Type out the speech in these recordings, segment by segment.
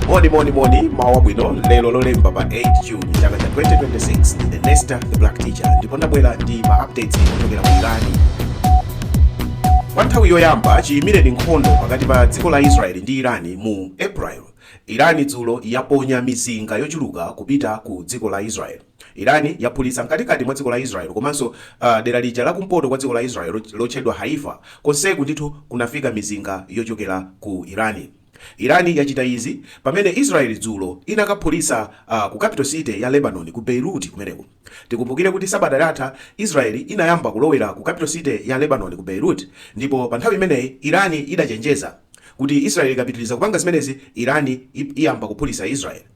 moni moni moni mmawa wabwino lero lolemba pa 8 june chaka cha 2026 ndine nesta the black teacher ndipo ndabwera ndi ma updates ochokera ku irani kwa nthawi yoyamba chiyimireni nkhondo pakati pa dziko la israeli ndi irani mu april irani dzulo yaponya mizinga yochuluka kupita ku dziko la israeli Iran yaphulitsa mkatikati mwa dziko la Israel komanso dera lija la kumpoto kwa dziko la Israel lotchedwa Haifa. Konseku ndithu kunafika mizinga yochokera ku Iran. Iran yachita izi pamene Israel dzulo inakaphulitsa ku capital city ya Lebanon ku Beirut kumeneku. Tikumbukire kuti sabata latha Israel inayamba kulowera ku capital city ya Lebanon ku Beirut ndipo pa nthawi imeneyi Iran idachenjeza kuti Israel ikapitiliza kupanga zimenezi Iran iyamba kuphulitsa Israel.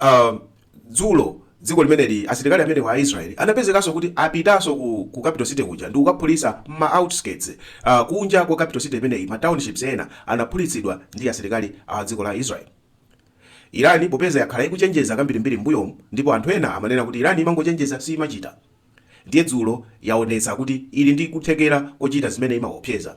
Uh, dzulo dziko limeneli asilikali amenewa a Israel anapezekanso kuti apitanso ku, ku capital city kuja ndi kukaphulitsa ma outskirts uh, kunja kwa capital city imeneyi ma townships ena anaphulitsidwa ndi asilikali a dziko la Israel. Irani popeza yakhala ikuchenjeza kambirimbiri mbuyomu ndipo anthu ena amanena kuti Irani imangochenjeza siimachita. Ndiye dzulo yaonetsa kuti ili ndi kuthekera kochita zimene imaopseza.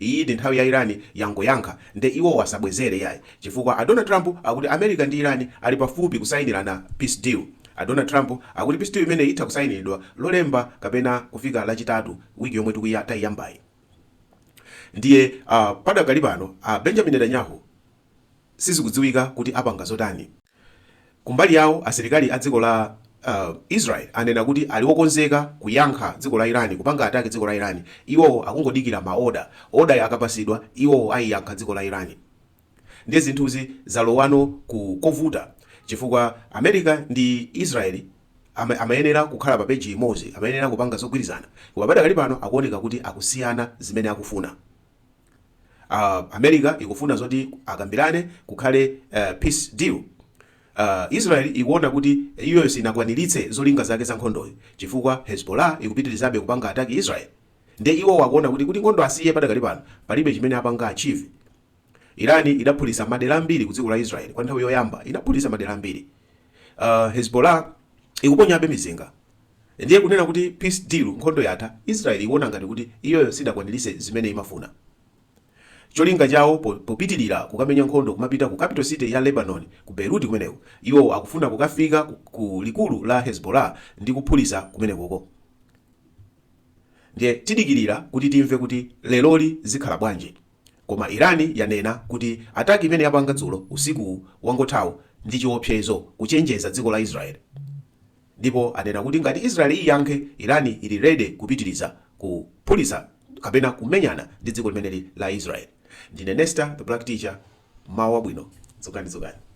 Iyi ndi nthawi ya Iran yangoyankha nde iwowo asabwezere iyayi chifukwa a Donald Trump akuti America ndi Iran ali pafupi kusayinirana peace deal. A Donald Trump akuti peace deal imeneyi itha kusayiniridwa lolemba kapena kufika lachitatu wiki yomwe tikuya tayiyambayi ndiye uh padakali pano a Benjamin Netanyahu sizikudziwika kuti apanga zotani. Kumbali yawo asilikali a dziko la Israel anena kuti ali okonzeka kuyankha dziko la Iran kupanga attack dziko la Iran iwowo akungodikira ma order, order yo akapatsidwa iwowo aiyankha dziko la Iran. Ndiye zinthuzi zalowano ku kovuta chifukwa America ndi Israel amayenera kukhala pa page imodzi, amayenera kupanga zogwirizana koma padakali pano akuoneka kuti akusiyana zimene akufuna. America ikufuna zoti akambirane kukhale peace deal. Israel ikuona kuti iyoyo sinakwanilitse zolinga zake za nkhondoyi chifukwa Hezbollah ikupitilizabe kupanga attack Israel nde iwowo akuona kuti kuti nkhondo asiye padakali pano palibe chimene apanga achieve. Iran idaphulisa madera ambiri kudziko la Israel kwa nthawi yoyamba inaphulisa madera ambiri. Hezbollah ikuponyabe mizinga. Ndiye kunena kuti peace deal, nkhondo yatha, Israel ikuona ngati kuti iyoyo sidakwanilise zimene imafuna. Cholinga chawo po popitilira kukamenya nkhondo kumapita ku capital city ya Lebanon ku Beirut kumeneko, iwo akufuna kukafika ku ku likulu la Hezbollah ndi kuphulisa kumenekoko. Ndiye tidikilira kuti timve kuti leroli zikhala bwanji. Koma Iran yanena kuti attack imene yapanga dzulo usiku wangothawu ndi chiopsezo kuchenjeza dziko la Israel. Ndipo anena kuti ngati Israel iyankhe, Iran ili ready kupitiliza kuphulitsa kapena kumenyana ndi dziko limeneli la Israel. Ndine Nesta the Black Teacher, mmawa wabwino, dzukani dzukani.